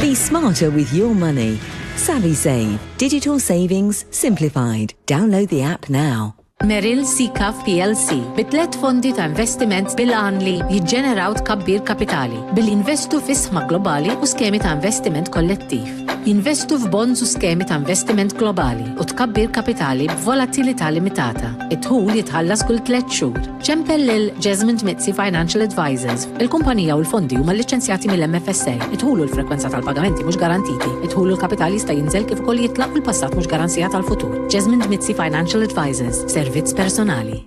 Be smarter with your money. SavvySave, digital savings simplified. Download the app now. Merrill Seacav plc bi tliet fondi ta' investiment bil-għan li jiġġeneraw tkabbir kapitali billi jinvestu fis-sma globali u skemi ta' investiment kollettiv. Jinvestu f'bonds u skemi ta' investiment globali u tkabbir kapitali b'volatilità limitata. Id-dħul jitħallas kull tliet xhur. Ċempel lil Jesmond Mizzi Financial Advisors. Il-kumpanija u l-fondi huma lliċenzjati mill-MFSA. Id-dħul u l-frekwenza tal-pagamenti mhux garantiti. Id-dħul u l-kapital jista' jinżel kif ukoll jitla' u l-passat mhux garanzija tal-futur. Jesmond Mizzi Financial Advisors, servizz personali.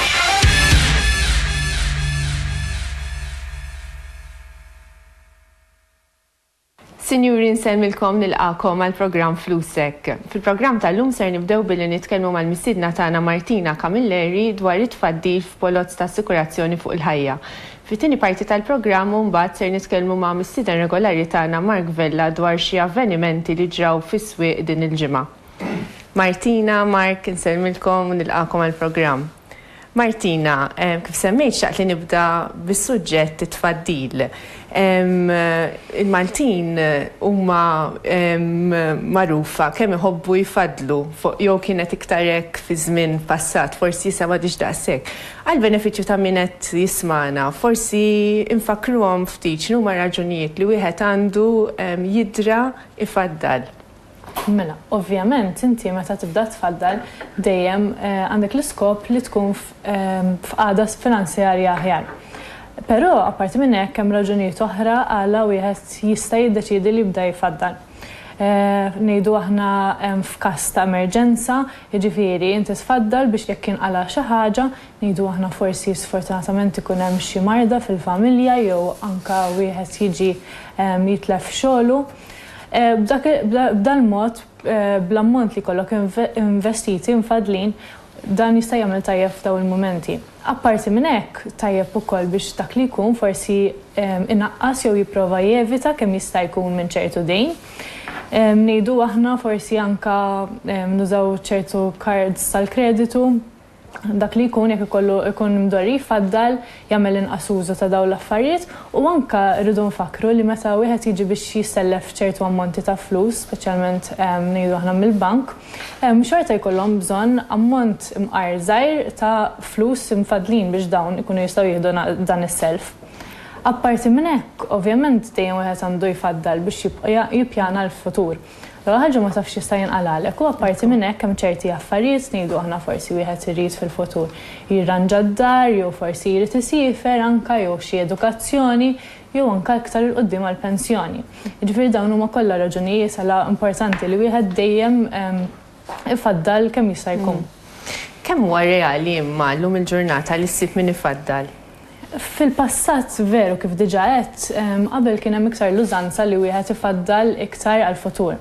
Sinjuri nsellmilkom nilqakom għal programm Flusek. Fil-programm tal-lum ser nibdew billi nitkellmu mal-missiedna tagħna Martina Camilleri dwar it-tfaddil f'polozz ta' assikurazzjoni fuq il-ħajja. Fit-tieni parti tal-programm mbagħad ser nitkellmu ma' missieden regolari tagħna Mark Vella dwar xi avvenimenti li ġraw fis-swieq din il-ġimgħa. Martina, Mark, insellmilkom u nilqagħkom għall-programm. Martina, kif semmejt xtaqt li nibda bis-suġġett it-tfaddil. Il-Maltin huma magħrufa kemm iħobbu jfaddlu, jew kienet iktar hekk fi żmien passat, forsi issa m'għadhiex daqshekk. Għall-benefiċċju ta' min qed jismagħna, forsi nfakkruhom ftit x'inhuma r-raġunijiet li wieħed għandu jidra jfaddal. Mela, ovvjament inti meta tibda tfaddal dejjem għandek l-iskop li tkun f'qagħda finanzjarja aħjar. Però apparti minn hekk hemm raġunijiet oħra għala wieħed jista' jiddeċiedi li jibda jfaddal. Ngħidu aħna f'każ ta' emerġenza, jiġifieri inti tfaddal biex jekk jinqala' xi ħaġa, ngħidu aħna forsi sfortunatament ikun hemm xi marda fil-familja jew anke wieħed jiġi jitlef xogħlu, B'dal-mod, bl-ammont li jkollok investiti mfaddlin, dan jista' jagħmel tajjeb f'dawn il-mumenti. Apparti minn hekk, tajjeb ukoll biex dak li jkun forsi inaqqas jew jipprova jevita kemm jista' jkun minn ċertu dejn. Ngħidu aħna forsi anke nużaw ċertu cards tal-kreditu. dak li jkun jekk ikollu ikun mdorri jfaddal jagħmel inqas użu ta' dawn l-affarijiet u anke rridu nfakkru li meta wieħed jiġi biex jissellef ċertu ammonti ta' flus, speċjalment ngħidu aħna mill-bank, xorta jkollhom bżonn ammont imqar żgħir ta' flus imfaddlin biex dawn ikunu jistgħu jieħdu dan is-self. Apparti minn hekk, ovvjament dejjem wieħed għandu jfaddal biex jibqa' jippjana l-futur. L-ewwel ħaġa ma tafx x'jista' jinqalagħlek u apparti minn hekk hemm ċerti affarijiet ngħidu aħna forsi wieħed irid fil-futur jirranġa d-dar jew forsi jrid isiefer anke jew xi edukazzjoni jew anke iktar 'il quddiem għall-pensjoni. Jiġifieri dawn huma kollha raġunijiet għala importanti li wieħed dejjem ifaddal kemm jista' jkun. Kemm huwa reali imma llum il-ġurnata li ssib min ifaddal? Fil-passat veru kif diġà għedt, qabel kien hemm iktar l-użanza li wieħed ifaddal iktar għall-futur.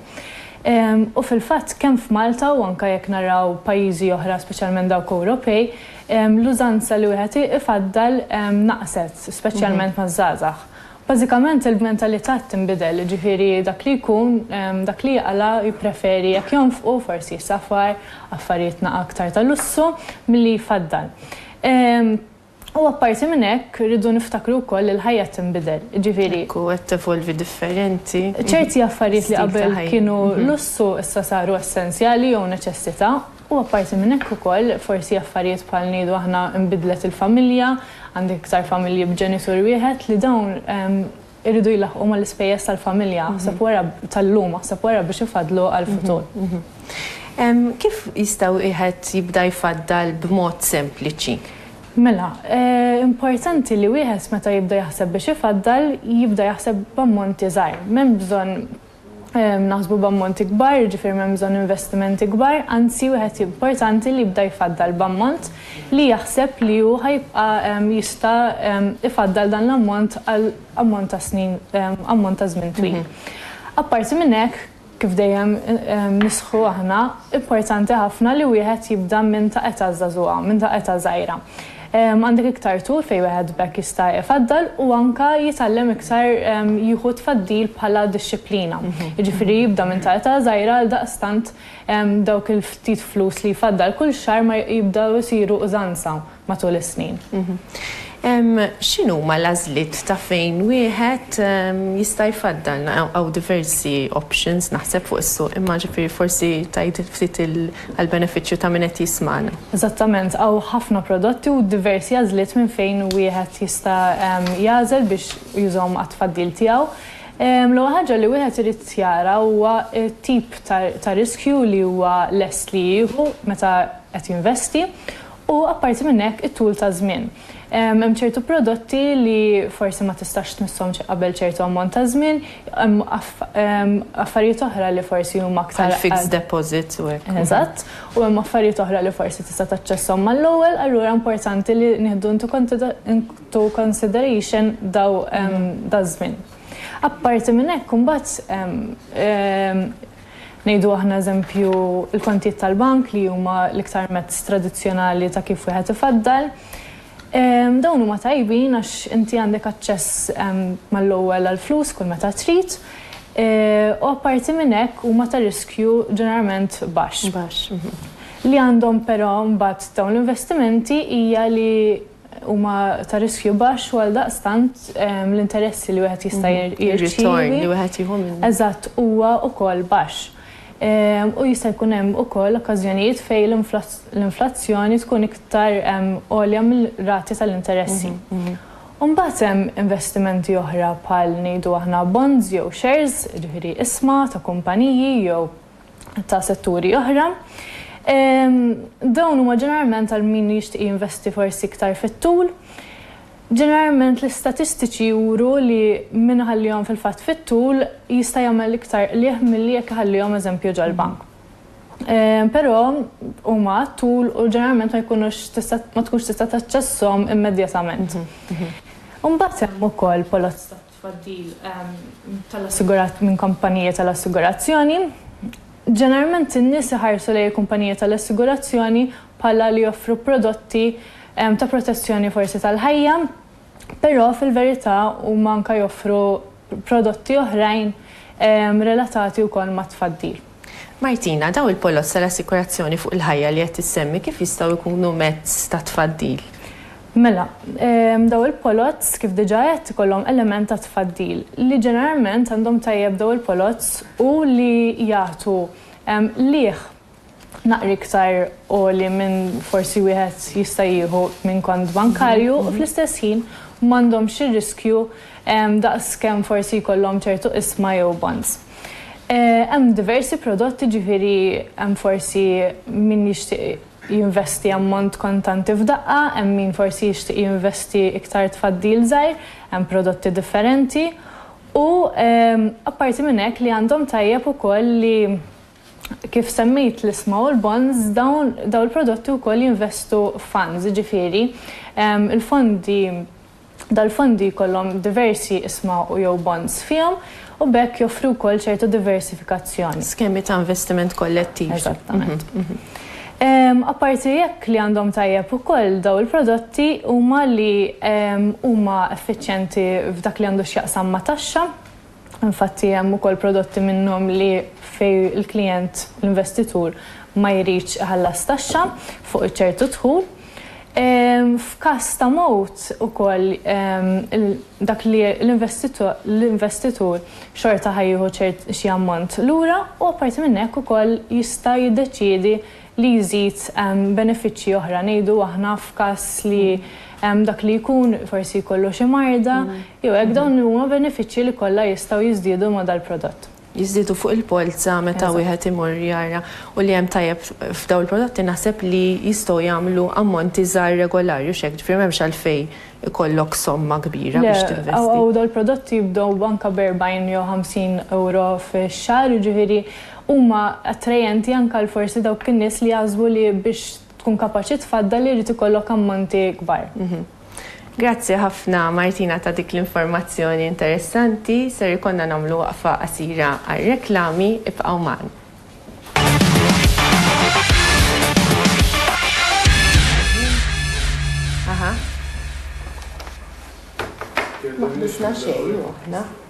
U fil-fatt kemm f'Malta u anke jekk naraw pajjiżi oħra speċjalment dawk Ewropej, l-użanza li wieħed ifaddal naqset, speċjalment maż-żgħażagħ. Bażikament il-mentalità qed tinbidel, jiġifieri dak li jkun, dak li jaqla' jippreferi jekk jonfqu forsi safar, affarijiet naqra aktar ta' lussu milli jfaddal. U apparti minn hekk irridu niftakru wkoll li l-ħajja qed tinbidel, jiġifieri. Hekk hu, qed tevolvi differenti. Ċerti affarijiet li qabel kienu lussu issa saru essenzjali jew neċessità. U apparti minn hekk ukoll, forsi affarijiet bħal ngħidu aħna nbidlet il-familja, għandek iktar familji b'ġenitur wieħed, li dawn iridu jlaħħqu mal-ispejjeż tal-familja, aħseb wara tal-lum, aħseb wara biex ifaddlu għall-futur. Kif jista' wieħed jibda jfaddal b'mod sempliċi? Mela, importanti li wieħed meta jibda jaħseb biex ifaddal, jibda jaħseb b'ammonti żgħar. M'hemm bżonn naħsbu b'ammonti kbar, jiġifieri m'hemm bżonn investimenti kbar, anzi wieħed importanti li jibda jfaddal b'ammont li jaħseb li hu ħa jibqa' jista' jfaddal dan l-ammont għal ammont ta' snin, ammont ta' żmien twil. Apparti minn hekk, kif dejjem nisħqu aħna, importanti ħafna li wieħed jibda minn ta' età żagħżugħa, minn ta' età żgħira. Għandek iktar tul fejn wieħed b'hekk jista' ifaddal u anke jitgħallem iktar jieħu t-tfaddil bħala dixxiplina. Jiġifieri jibda minn ta' età żgħira għaldaqstant dawk il-ftit flus li jfaddal kull xahar ma jibdew isiru użanza matul is-snin. X'inhuma l-għażliet ta' fejn wieħed jista' jfaddal? Hawn diversi options naħseb fuq is-suq imma ġifieri forsi tgħid ftit il. għall-benefiċċju ta' min qed jismagħna. Eżattament, hawn ħafna prodotti u diversi għażliet minn fejn wieħed jista' jagħżel biex jużahom għat-tfaddil tiegħu. L-ewwel ħaġa li wieħed irid jara huwa t-tip ta' riskju li huwa lest li jieħu meta qed jinvesti u apparti minn hekk it-tul ta' żmien. Hemm ċertu prodotti li forsi ma tistax tmisshom qabel ċertu ammont ta' żmien, hemm affarijiet oħra li forsi huma aktar. Bħal fixed deposits u hekk. Eżatt. U hemm affarijiet oħra li forsi tista' taċċesshom mal-ewwel, allura importanti li nieħdu into consideration dan iż-żmien. Apparti minn hekk imbagħad Ngħidu aħna eżempju l-kontijiet tal-bank li huma l-iktar mezz tradizzjonali ta' kif wieħed ifaddal. Dawn huma tajbin għax inti għandek aċċess mal-ewwel għall-flus kull meta trid u apparti minn hekk huma ta' riskju ġeneralment baxx. Baxx. Li għandhom però mbagħad dawn l-investimenti hija li huma ta' riskju baxx u għaldaqstant l-interessi li wieħed jista' jirċievi. Ir-ritorn li wieħed jieħu minnhom. Eżatt, huwa wkoll baxx. U jista' jkun hemm ukoll okkażjonijiet fejn l-inflazzjoni tkun iktar għolja mill-rati tal-interessi. U mbagħad hemm investimenti oħra bħal ngħidu aħna bonds jew shares, jiġifieri isma ta' kumpaniji jew ta' setturi oħra. Dawn huma ġeneralment għal min jixtieq jinvesti forsi iktar fit-tul. Ġeneralment l-istatistiċi juru li min iħallihom fil-fatt fit-tul jista' jagħmel iktar qligħ milli jekk iħallihom eżempju ġol-bank. Però huma għat-tul u ġeneralment ma jkunux tista' ma tkunx tista' taċċesshom immedjatament. Imbagħad hemm ukoll poloz ta' tfaddil tal-assigurat minn kumpanija tal-assigurazzjoni. Ġeneralment in-nies iħarsu lejn il-kumpanija tal-assigurazzjoni bħala li joffru prodotti ta' protezzjoni forsi tal-ħajja, però fil-verità huma anke joffru prodotti oħrajn relatati wkoll mat-tfaddil. Martina, dawn il-poloz tal-assikurazzjoni fuq il-ħajja li qed issemmi kif jistgħu jkunu mezz ta' tfaddil? Mela, dawn il-poloz kif diġà għedt ikollhom element ta' tfaddil. Li ġeneralment għandhom tajjeb dawn il-poloz hu li jagħtu qligħ naqra iktar għoli minn forsi wieħed jista' jieħu minn kont bankarju u fl-istess ħin m'għandhomx ir-riskju daqs kemm forsi jkollhom ċertu qisma jew bonds. Hemm diversi prodotti ġifieri hemm forsi min jixtieq jinvesti ammont kontanti f'daqqa, hemm min forsi jixtieq jinvesti iktar tfaddil żgħir, hemm prodotti differenti u apparti minn hekk li għandhom tajjeb ukoll li kif semmejt l-isma u l-bonds dawn dawn il-prodotti wkoll jinvestu f'funds ġifieri l-fondi Dal-fondi jkollhom diversi isma u jew bonds fihom u b'hekk joffru wkoll ċertu diversifikazzjoni. Skemi ta' investiment kollettiv. Eżattament. Apparti hekk li għandhom tajjeb ukoll dawn il-prodotti huma li huma effiċjenti f'dak li għandu x'jaqsam ma' taxxa. Infatti hemm ukoll prodotti minnhom li fejn il-klijent, l-investitur, ma jridx iħallas taxxa fuq ċertu dħul. F'każ ta' mewt ukoll dak li l-investitur xorta ħa jieħu xi ammont lura u apparti minn hekk ukoll jista' jiddeċiedi li jżid benefiċċji oħra, ngħidu aħna f'każ li hemm dak li jkun, forsi jkollu xi marda, jew hekk, dawn huma benefiċċji li kollha jistgħu jiżdiedu ma' dal-prodott. Jiżdiedu fuq il-polza meta wieħed imur jara u li hemm tajjeb f'dawn il-prodotti naħseb li jistgħu jagħmlu ammonti żgħar regolari, hux hekk? Ġifieri m'hemmx għalfejn ikollok somma kbira biex tinvesti. Le, u dal-prodotti jibdew anke b' 40 jew 50 ewro fix-xahar, jiġifieri huma attrajenti anke għal forsi dawk in-nies li jaħsbu li biex tkun kapaċi tfaddal irid ikollok ammonti kbar. Grazzi ħafna Martina ta' dik l-informazzjoni interessanti. Ser ikollna nagħmlu waqfa qasira għar-reklami. Ibqgħu magħna.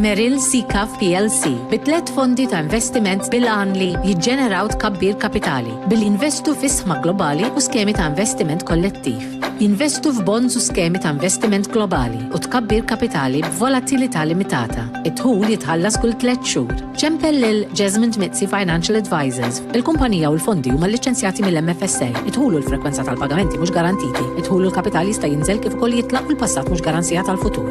Merrill Seacav plc bi tliet fondi ta' investiment bil-għan li jiġġeneraw tkabbir kapitali billi jinvestu fi sħma globali u skemi ta' investiment kollettiv. Jinvestu f'bonds u skemi ta' investiment globali u tkabbir kapitali b'volatilità limitata. Id-dħul jitħallas kull tliet xhur. Ċempel lil Jesmond Mizzi Financial Advisors. Il-kumpanija u l-fondi huma lliċenzjati mill-MFSA. Id-dħul u l-frekwenza tal-pagamenti mhux garantiti. Id-dħul u l-kapital jista' jinżel kif ukoll jitlaq u l-passat mhux garanzija tal-futur.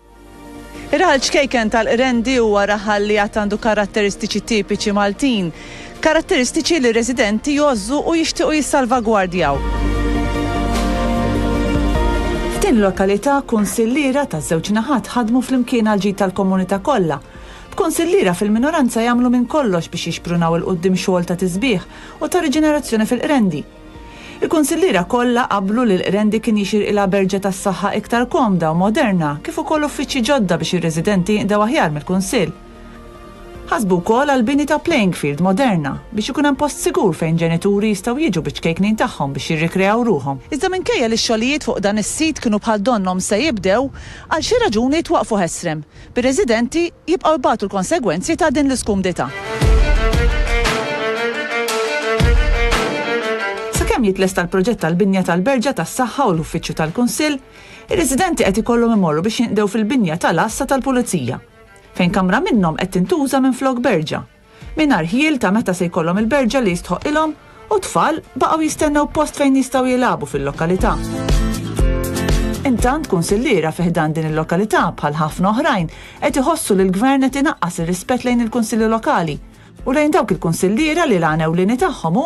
Ir-raħal ċkejken tal-Qrendi huwa raħal li għad għandu karatteristiċi tipiċi Maltin, karatteristiċi li r-residenti jgħożżu u jixtiequ jissalvagwardjaw. F'din il-lokalità kunsilliera taż-żewġ naħat ħadmu flimkien għall-ġid tal-komunità kollha. B'kunsilliera fil-minoranza jagħmlu minn kollox biex jixprunaw 'il quddiem xogħol ta' tisbiħ u ta' riġenerazzjoni fil-Qrendi. Il-kunsilliera kollha qablu li l-Qrendi kien jixirqilha berġa tas-saħħa iktar komda u moderna kif ukoll uffiċċji ġodda biex ir-residenti jinqdew aħjar mill-Kunsill. Ħasbu wkoll għall-bini ta' playing field moderna biex ikun hemm post sigur fejn ġenituri jistgħu jiġu biċ-ċkejknin tagħhom biex jirrikreaw ruħhom. Iżda minkejja li x-xogħlijiet fuq dan is-sit kienu bħal donnhom se jibdew, għal xi raġuni twaqqfu ħesrem. bir-residenti jibqgħu jbatu l-konsegwenzi ta' din l-iskumdità. Sakemm jitlesta l-proġett tal-binja tal-Berġa tas-Saħħa u l-Uffiċċju tal-Kunsill, ir-residenti qed ikollhom imorru biex jinqdew fil-binja tal-Għassa tal-Pulizija, fejn kamra minnhom qed tintuża minflok berġa. mingħajr ħjiel ta' meta se jkollhom il-berġa li jistħoqqilhom u t-tfal baqgħu jistennew post fejn jistgħu jilagħbu fil-lokalità. Intant kunsilliera fi ħdan din il-lokalità bħal ħafna oħrajn qed iħossu li l-Gvern qed inaqqas ir-rispett lejn il-Kunsilli Lokali u lejn dawk il-kunsilliera li l-għan ewlieni tagħhom hu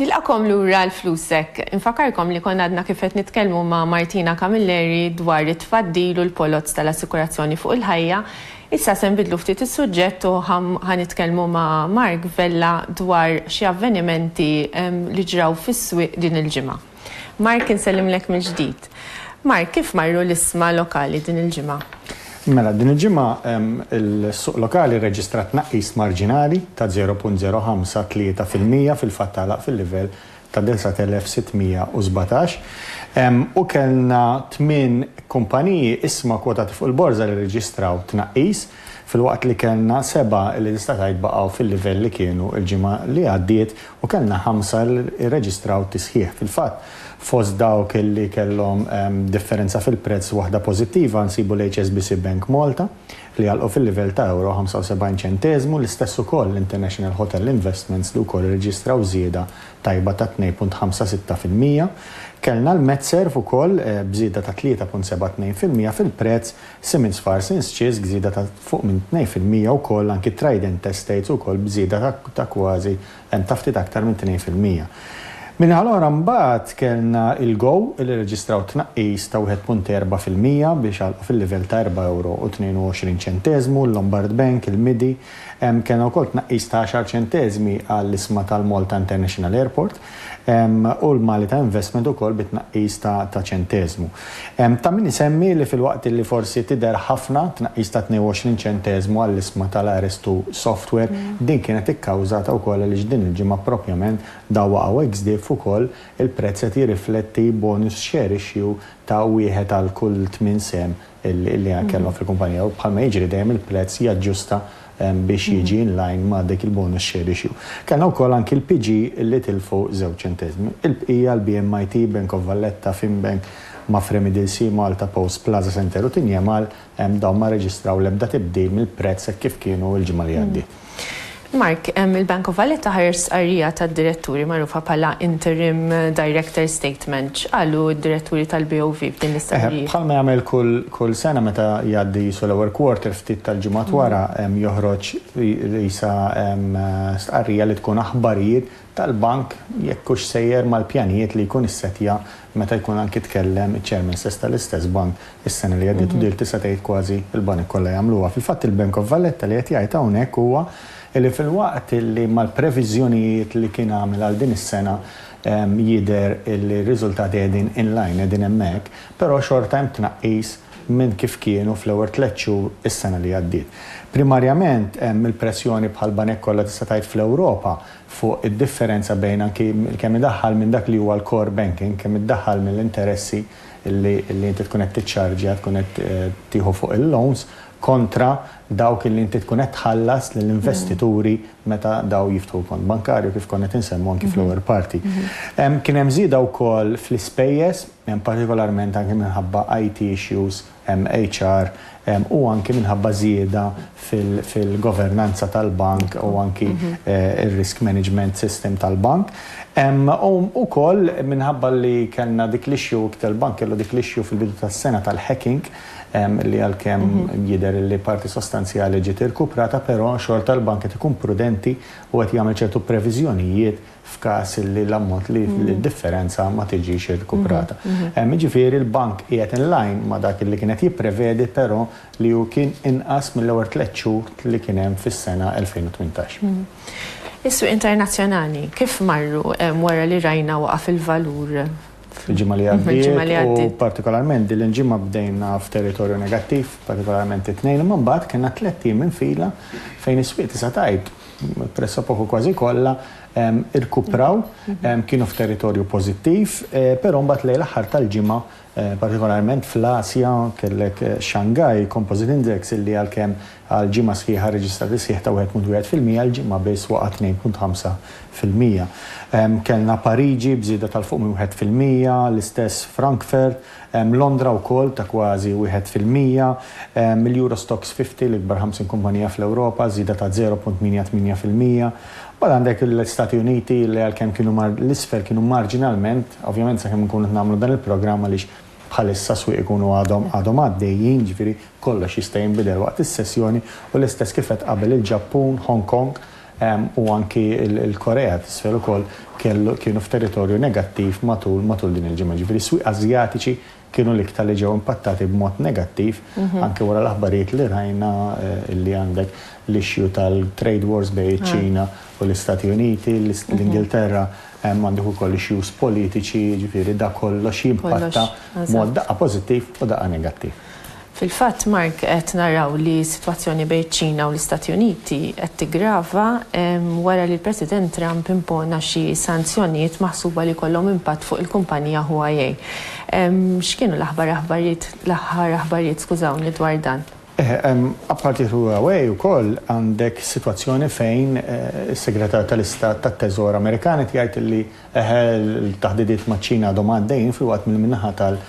Nilqakom lura l-flusek. Infakarkom li konna għadna kif qed nitkellmu ma' Martina Camilleri dwar it-tfaddil u l-poloz tal-assikurazzjoni fuq il-ħajja. Issa se nbidlu ftit is-suġġett u ħa nitkellmu ma' Mark Vella dwar xi avvenimenti li ġraw fis-swieq din il-ġimgħa. Mark, insellimlek mill-ġdid. Mark, kif marru l-isma lokali din il-ġimgħa? Mela, din il-ġimgħa il-suq lokali rreġistra tnaqqis marġinali ta' 0.053 fil-mija fil-fatt għalaq fil-livell ta' 9617 u kellna tmien kumpaniji isma kwotati fuq il-borża li rreġistraw tnaqqis. filwaqt li kellna sebgħa li tista' tgħid baqgħu fil-livell li kienu l-ġimgħa li għaddiet u kellna ħamsa li rreġistraw tisħiħ. Fil-fatt, fost dawk li kellhom differenza fil-prezz waħda pożittiva nsibu l-HSBC Bank Malta li għalqu fil-livell ta' ewro 75 ċenteżmu, l-istess ukoll l-International Hotel Investments li wkoll irreġistraw żieda tajba ta' 2.56 fil-mija. Kellna l-MedServ ukoll b'żieda ta' 3.72 fil-mija fil-prezz Simmons Farce Inns Cheese b'żieda ta' fuq minn tnejn fil-mija wkoll anki Trident Estates ukoll b'żieda ta' ta' kważi ta' ftit aktar minn tnejn fil-mija. Min-naħa l-oħra mbagħad kellna il-Go li rreġistraw tnaqqis ta' wieħed punt erbgħa fil-mija biex għalqu fil-livell ta' erbgħa ewro u tnejn u għoxrin ċenteżmu, il-Lombard Bank, il-Midi, kellna wkoll tnaqqis ta' għaxar ċenteżmi għall-isma tal-Malta International Airport. u l-Mali ta' Investment ukoll bi tnaqqis ta' ta' ċenteżmu. Ta' min isemmi li filwaqt li forsi tidher ħafna tnaqqis ta' 22 ċenteżmu għall-isma tal-Arestu Software, din kienet ikkawżata wkoll għaliex din il-ġimgħa proprjament daw waqgħu ex diff ukoll il-prezz qed jirrifletti bonus share issue ta' wieħed għal kull tmien sehem li kellhom fil-kumpanija u bħalma jiġri dejjem il-prezz jaġġusta biex jiġi in line ma' dik il-bonus share issue. Kellna wkoll anki l-PG li tilfu żewġ ċentesmi. Il-bqija, l-BMIT, Bank of Valletta, Finbank, Mapfre Middle Sea, Malta Post, Plaza Center u Tinjemal, dawn ma rreġistraw l-ebda tibdil mill-prezz hekk kif kienu l-ġimgħa li għaddiet. Mark, il-Bank of Valletta ħareġ stqarrija tad-diretturi magħrufa bħala interim directors statement. X'qalu d-diretturi tal-BOV f'din l-istqarrija? Bħalma jagħmel kull sena meta jgħaddi qisu l-ewwel quarter ftit tal-ġimgħat wara joħroġ qisha stqarrija li tkun aħbarijiet tal-bank jekk hux sejjer mal-pjanijiet li jkun issettja Meta jkun anki tkellem iċ-Chairman stess tal-istess bank is-sena li għaddiet u dir tista' tgħid kważi l-banek kollha jagħmluha. Fil-fatt il-Bank of Valletta li qed jgħid hawnhekk huwa li filwaqt li mal-previżjonijiet li kien għamel għal din is-sena jidher li r-riżultati qegħdin in line, qegħdin hemmhekk, però xorta hemm tnaqqis minn kif kienu fl-ewwel tliet xhur is-sena li għaddiet. Primarjament hemm il-pressjoni bħall-banek kollha tista' tgħid fl-Ewropa fuq id-differenza bejn anki kemm idaħħal minn dak li huwa l-core banking, kemm iddaħħal mill-interessi li inti tkun qed tiċċarġja, tkun qed tieħu fuq il-loans, kontra dawk li inti tkun qed tħallas lill-investituri meta dawn jiftħu kont bankarju, kif konna qed insemmu anki fl-ewwel parti. Kien hemm żieda wkoll fl-ispejjeż, partikolarment anki minħabba IT issues, MHR, u anki minħabba żieda fil-governanza tal-bank u anki r-risk management system tal-bank. U wkoll minħabba li kellna dik l-issue, il-bank kellu dik l-issue fil-bidu tas-sena tal-hacking, li għalkemm jidher li parti sostanzjali ġiet irkuprata, però xorta l-bank qed ikun prudenti u qed jagħmel ċertu previżjonijiet f'każ li l-ammont li d-differenza ma tiġix irkuprata. Jiġifieri l-bank qiegħed in line ma' dak li kien qed jipprevedi però li hu kien inqas mill-ewwel tliet xhur li kien hemm fis-sena 2018. Is-swieq internazzjonali kif marru wara li rajna waqa' fil-valur fil-ġimgħa li għaddiet? Fil-ġimgħa li għaddiet. U partikolarment din il-ġimgħa bdejna f'territorju negattiv, partikolarment it-Tnejn, imma mbagħad kellna tliet ijiem minn fila fejn is-swieq tista' tgħid pressopoco kważi kollha, irkupraw, kienu f'territorju pożittiv, però mbagħad lejn l-aħħar tal-ġimgħa, partikolarment fl-Asja, kellek Shanghai Composite Index illi għalkemm għal ġimgħa sħiħa rreġistra tisħiħ ta' 1.1 fil-mija, l-ġimgħa biss waqa' 2.5 fil-mija. Kellna Pariġi b'żieda tal-fuq minn wieħed fil-mija, l-istess Frankfurt, Londra wkoll ta' kważi wieħed fil-mija, mill-Euro Stoxx 50, l-ikbar 50 kumpanija fl-Ewropa, żieda ta' 0.88 fil-mija. Mbagħad għandek l-Istati Uniti li għalkemm kienu mar l-isfel kienu marġinalment, ovvjament sakemm inkunu qed nagħmlu dan il-programm għaliex bħalissa s-swieq ikunu għadhom għadhom għaddejjin, ġifieri kollox jista' jinbidel waqt is-sessjoni, u l-istess kif għedt qabel il-Ġappun, Hong Kong, u anki l-Korea t'Isfel ukoll kellu kienu f'territorju negattiv matul matul din il-ġimgħa. Jiġifieri s-swieq Asjatiċi kienu l-iktar li ġew impattati b'mod negattiv anki wara l-aħbarijiet li rajna li għandek l-issue tal-trade wars bejn iċ-Ċina u l-Istati Uniti, l-Ingilterra għandek ukoll issues politiċi, jiġifieri dak kollox jimpatta b'mod daqqa pożittiv u daqqa negattiv. Fil-fatt, Mark, qed naraw li s-sitwazzjoni bejn iċ-Ċina u l-Istati Uniti qed tiggrava wara li l-President Trump impona xi sanzjonijiet maħsuba li jkollhom impatt fuq il-kumpanija Huawei. X'kienu l-aħbar aħbarijiet, l-aħħar aħbarijiet, skużawni, dwar dan? Eħe, apparti Huawei wkoll għandek sitwazzjoni fejn is-Segretarju tal-Istat tat-Teżor Amerikan qed jgħid li, eħe, l-taħdidiet maċ-Ċina għadhom għaddejjin filwaqt milli min-naħa tal,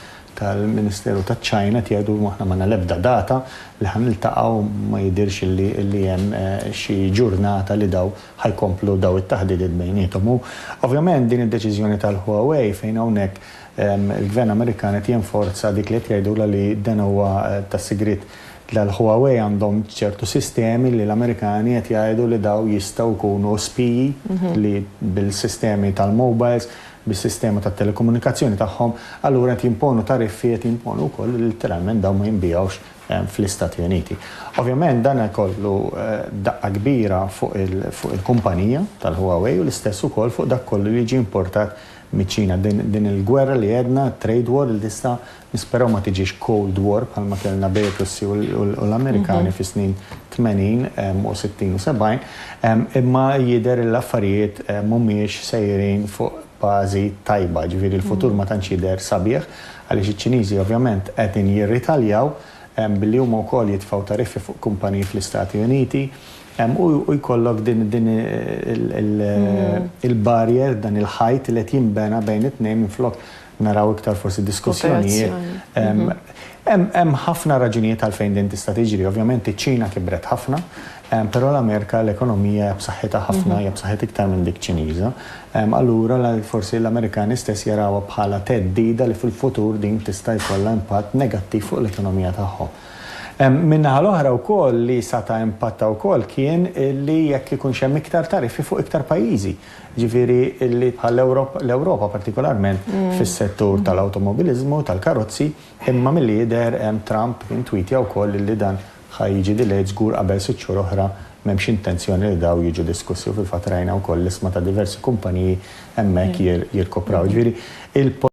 tal-Ministeru taċ-Ċina tgħidu aħna m'għandna l-ebda data li ħa niltaqgħu ma jidhirx li hemm xi ġurnata li dawn ħa jkomplu dawn it-taħdidiet bejniethom. U ovvjament din id-deċiżjoni tal-Huawei fejn hawnhekk il-Gvern Amerikan qed jenforza dik li qed jgħidulha li dan huwa ta' sigriet tal-Huawei għandhom ċertu sistemi li l-Amerikani qed jgħidu li dawn jistgħu jkunu spiji li bil-sistemi tal-mobiles bis-sistema tat-telekomunikazzjoni tagħhom, allura qed jimponu tariffi, qed jimponu wkoll li litteralment dawn ma jinbigħux fl-Istati Uniti. Ovvjament dan jkollu daqqa kbira fuq il-kumpanija tal-Huawei u l-istess ukoll fuq dak kollu li jiġi importat miċ-Ċina. Din il-gwerra li għedna, trade war, li tista' Nisperaw ma tiġix cold war bħalma kellna bejn ir-Russi u l-Amerikani fis-snin 80 u 60 u 70, imma jidher li l-affarijiet mhumiex sejrin fuq bażi tajba, ġifieri l-futur ma tantx jidher sabiħ għaliex iċ-Ċiniżi ovvjament qegħdin jirritaljaw billi huma wkoll jitfgħu tariffi fuq kumpaniji fl-Istati Uniti u jkollok din il-barrier, dan il-ħajt li qed jinbena bejn it-tnejn minflok naraw iktar forsi diskussjonijiet. Hemm ħafna raġunijiet għalfejn din tista' tiġri. Ovvjament iċ-Ċina kibret ħafna, però l-Amerika l-ekonomija hija b'saħħitha ħafna, hija b'saħħitha iktar minn dik Ċiniża. Allura forsi l-Amerikani stess jarawha bħala theddida li fil-futur din tista' jkollha impatt negattiv fuq l-ekonomija tagħhom. Min-naħa l-oħra wkoll li sata' impatta wkoll kien li jekk ikunx hemm iktar tariffi fuq iktar pajjiżi. Jiġifieri li bħal l-Ewropa partikolarment fis-settur tal-awtomobiliżmu, tal-karozzi, imma milli jidher hemm Trump intwitja wkoll li dan ħa jiġi delayed żgur qabel sitt xhur oħra m'hemmx intenzjoni li dawn jiġu diskussi u fil-fatt rajna wkoll l-isma ta' diversi kumpaniji hemmhekk jirkupraw. Jiġifieri